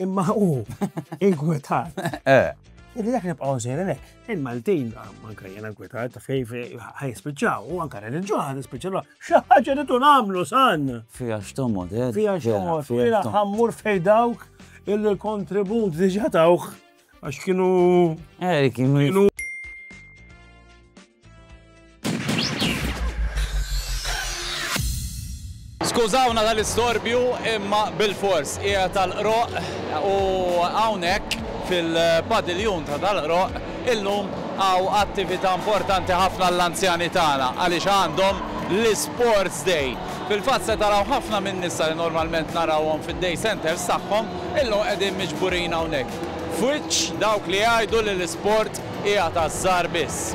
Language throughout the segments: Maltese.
Imma u, inkwetat. Eh. Illi dak nibqaw sejrin hekk. Il-Maltin, anka jena inkwetat, fej ħaj spiċċaw, u anka reġġuħ ħaj spiċċaw, xaħġa li tun għamlu san. Fija xtomod, eh. Fija xtomod, fija ħammur fej dawk il-kontribut diġa tawħ. Għax kienu. Eh, kienu. Skużawna tal-istorbju imma bil-fors hija tal-qroq u hawnhekk fil-padiljun ta' tal-qroq illum għaw attività importanti ħafna l-anzjani tagħna għaliex għandhom l-Sports Day. Fil-fatt se taraw ħafna minn nisa li normalment narawhom fid-day centers tagħhom Illum qegħdin miġburin hawnhekk f'wiċċ dawk li jgħidu li l-isport hija taż-żgħar biss.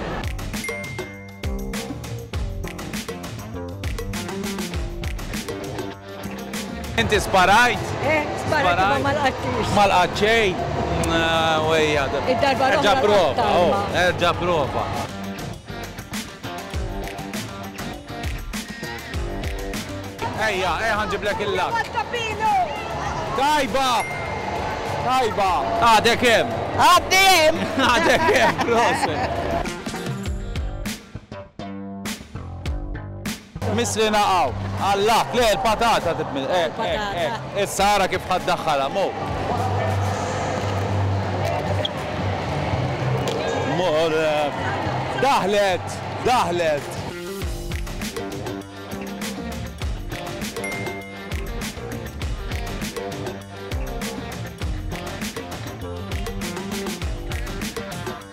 Inti sparajt? Eh, sparajt imma ma lqattix. Ma lqat xejn. Wejja. Id-darba Erġa' prova, oh, erġa' prova. Ejja, ejja ħanġiblek il-lat. Tajba! Tajba! Għadek hemm. Għaddi hemm. Għadek hemm, proset. Mislina hawn. Alla! Le, il-patata titmiss. Hekk, hekk, hekk. Issa ara kif ħa ddaħħalha. Mur. Mur. Daħlet! Daħlet!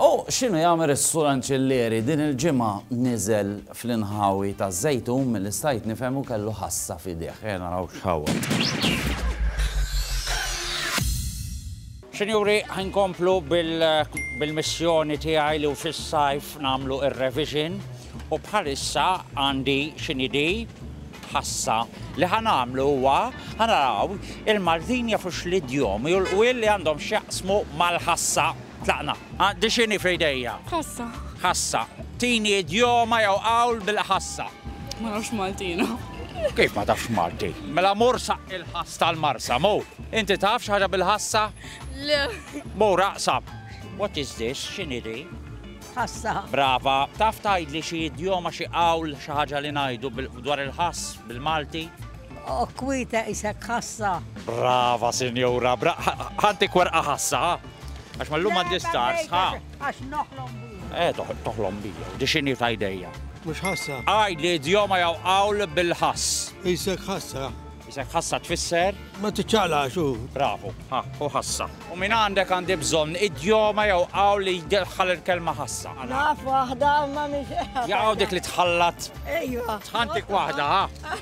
U x'inhu jagħmel is-Sur Anċillieri? Din il-ġimgħa niżel fl-inħawi taż-Żejtun milli stajt nifhem u kellu ħassa f'idejh. Ejja naraw x'ħawwad. Sinjuri, ħinkomplu bil-missjoni tiegħi li fis-sajf nagħmlu ir-revision u bħalissa għandi x'inhi di ħassa. Li ħanamlu huwa ħanaraw il-Mardinja fux l-idjomi u l-qwiel li għandhom x'jaqsmu mal-ħassa. Tlaqna. Għandi x'inhi f'idejja? Ħassa. Ħassa. Tini idjoma jew qawl bil-ħassa. Ma nafx Maltina. Kif ma tafx Malti? Mela mur sa il-ħass tal-marsa, mu. Inti taf xi ħaġa bil-ħassa? Le. Mu raqsab. What is this? X'inhi di? Ħassa. Brava. Taf tgħidli xi idjoma xi qawl xi ħaġa li ngħidu dwar il-ħass bil-Malti? Okwita isek ħassa. Brava, sinjura. Ħanti kwerqa ħassa, Għax ma l-lum għaddi star, sħa. Għax noħlom bija. Eh, toħlom bija, di xini ta' idejja. Mux ħassa. Għaj li djoma jaw għawl bil-ħass. Isek ħassa. Isek ħassa tfisser? Ma t-ċala xu. Bravu, ha, u ħassa. U minn għandek għandi bżon id-djoma jaw għawl li jdelħal il-kelma ħassa. Naf wahda ma miex. Jaw dik li tħallat. Ejwa. Tħantik wahda, ha.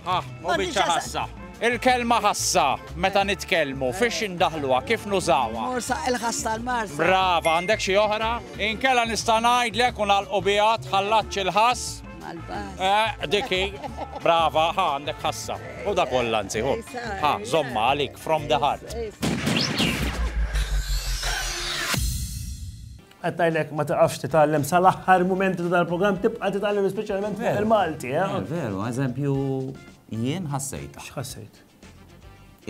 Ha, u biċċa ħassa. Il-kelma ħassa, meta nitkellmu, fiex indaħluha, kif nużawha? Morsa il-ħass tal-marsa. Brava, għandek xi oħra? Inkella nista' ngħidlek u nagħlqu biha tħallatx il-ħass. Eh, diki, brava, ha, għandek ħassa. U da kollha nsiħu. Ha, zomma għalik, from the heart. Qed ngħidlek ma tiqafx titgħallem sal-aħħar mumenti ta' dal-programm tibqa' titgħallem speċjalment fuq il-Malti, eh? Veru, eżempju, jien ħassejta. X'ħassejt?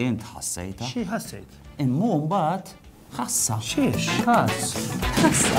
Int ħassejta? Xi ħassejt? Immu mbagħad ħassa. Xiex? Ħass. Ħassa.